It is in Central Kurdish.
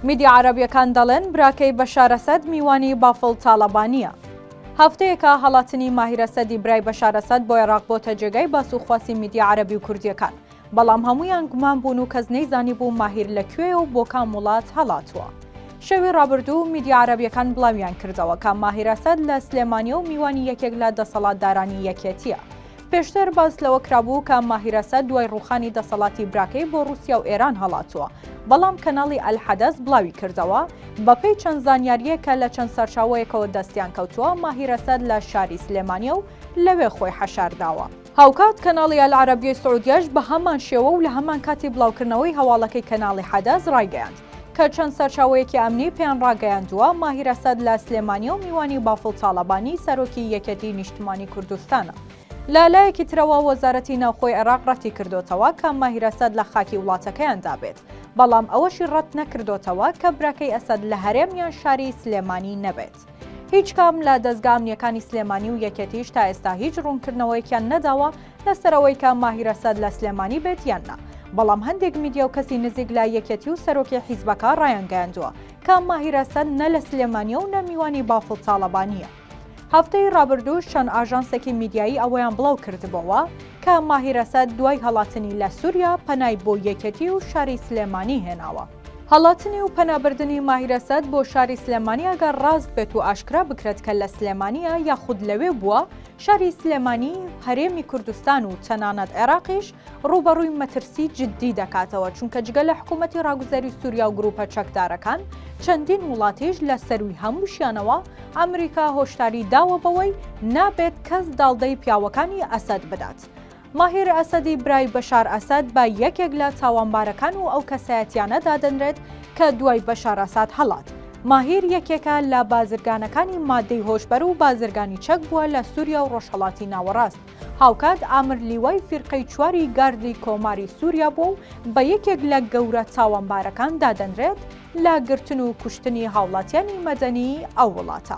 میدیا عەرەبیەکان دەڵێن براکەی بەشار ئەسەد میوانی بافڵ تاڵەبانییە. هەفتەیەکە هەڵاتنی ماهیر ئەسەدی برای بەشار ئەسەد بۆ عێراق بۆتە جێگای باس و خواسی میدیا عەرەبی و کوردییەکان، بەڵام هەموویان گومان بوون و کەس نەیزانیبوو ماهیر لە کوێیە و بۆ کام وڵات هەڵاتووە. شەوی ڕابردوو میدیا عەرەبیەکان بڵاویان کردەوە کە ماهیر ئەسەد لە سلێمانیە و میوانی یەکێک لە دەسەڵاتدارانی یەکێتییە. پێشتر باس لەوە کرابوو کە ماهیر ئەسەد دوای ڕووخانی دەسەڵاتی براکەی بۆ ڕووسیا و ئێران هەڵاتووە، بەڵام کەناڵی ئەلحەدەس بڵاوی کردەوە، بەپێی چەند زانیارییەک کە لە چەند سەرچاوەیەکەوە دەستیان کەوتووە، ماهیر ئەسەد لە شاری سلێمانییە و لەوێ خۆی حەشار داوە. هاوکات کەناڵی ئەلعەرەبیەی سعودیەش بە هەمان شێوە و لە هەمان کاتی بڵاوکردنەوەی هەواڵەکەی کەناڵی حەدەس ڕایگەیاند، کە چەند سەرچاوەیەکی ئەمنی پێیان ڕاگەیاندووە، ماهیر ئەسەد لە سلێمانییە و میوانی بافڵ تاڵەبانی، سەرۆکی یەکێتیی نیشتمانیی کوردستانە. لە لایەکی ترەوە وەزارەتی ناوخۆی عێراق ڕەتیکردۆتەوە کە ماهیر ئەسەد لە خاکی وڵاتەکەیاندا بێت، بەڵام ئەوەشی ڕەتنەکردۆتەوە کە براکەی ئەسەد لە هەرێم یان شاری سلێمانی نەبێت. بکات. هیچ کام لە دەزگا ئەمنییەکانی سلێمانی و یەکێتیش تا ئێستا هیچ ڕوونکردنەوەیەکیان نەداوە لەسەر ئەوەی کە ماهیر ئەسەد لە سلێمانی بێت یان نا، بەڵام هەندێک میدیا و کەسی نزیک لە یەکێتی و سەرۆکی حیزبەکە ڕایانگەیاندووە کە ماهیر ئەسەد نە لە سلێمانییە و نە میوانی بافڵ تاڵەبانییە. هەفتەی ڕابردووش چەند ئاژانسێکی میدیایی ئەوەیان بڵاو کردبۆوە کە ماهیر ئەسەد دوای هەڵاتنی لە سووریا پەنای بۆ یەکێتی و شاری سلێمانی هێناوە. هەڵاتنی و پەنابردنی ماهیر ئەسەد بۆ شاری سلێمانی ئەگەر ڕاست بێت و ئاشکرا بکرێت کە لە سلێمانیە یاخود لەوێ بووە، شاری سلێمانی، هەرێمی کوردستان و تەنانەت عێراقیش ڕووبەڕووی مەترسی جددی دەکاتەوە، چونکە جگە لە حکوومەتی ڕاگوزەری سووریا و گرووپە چەکدارەکان، چەندین وڵاتیش لە سەرووی هەمووشیانەوە ئەمریکا هۆشداری داوە بەوەی نابێت کەس داڵدەی پیاوەکانی ئەسەد بدات. ماهیر ئەسەدی برای بەشار ئەسەد بە یەکێک لە تاوانبارەکان و ئەو کەسایەتیانە دادەنرێت کە دوای بەشار ئەساد هەڵات. ماهیر یەکێکە لە بازرگانەکانی مادەی هۆشبەر و بازرگانی چەک بووە لە سوریا و ڕۆژهەڵاتی ناوەڕاست. هاوکات ئامر لیوای فیرقەی چواری گاردی کۆماری سوریا بووە و بە یەکێک لە گەورە تاوانبارەکان دادەنرێت، لە گرتن و کوشتنی هاوڵاتیانی مەدەنی ئەو وڵاتە.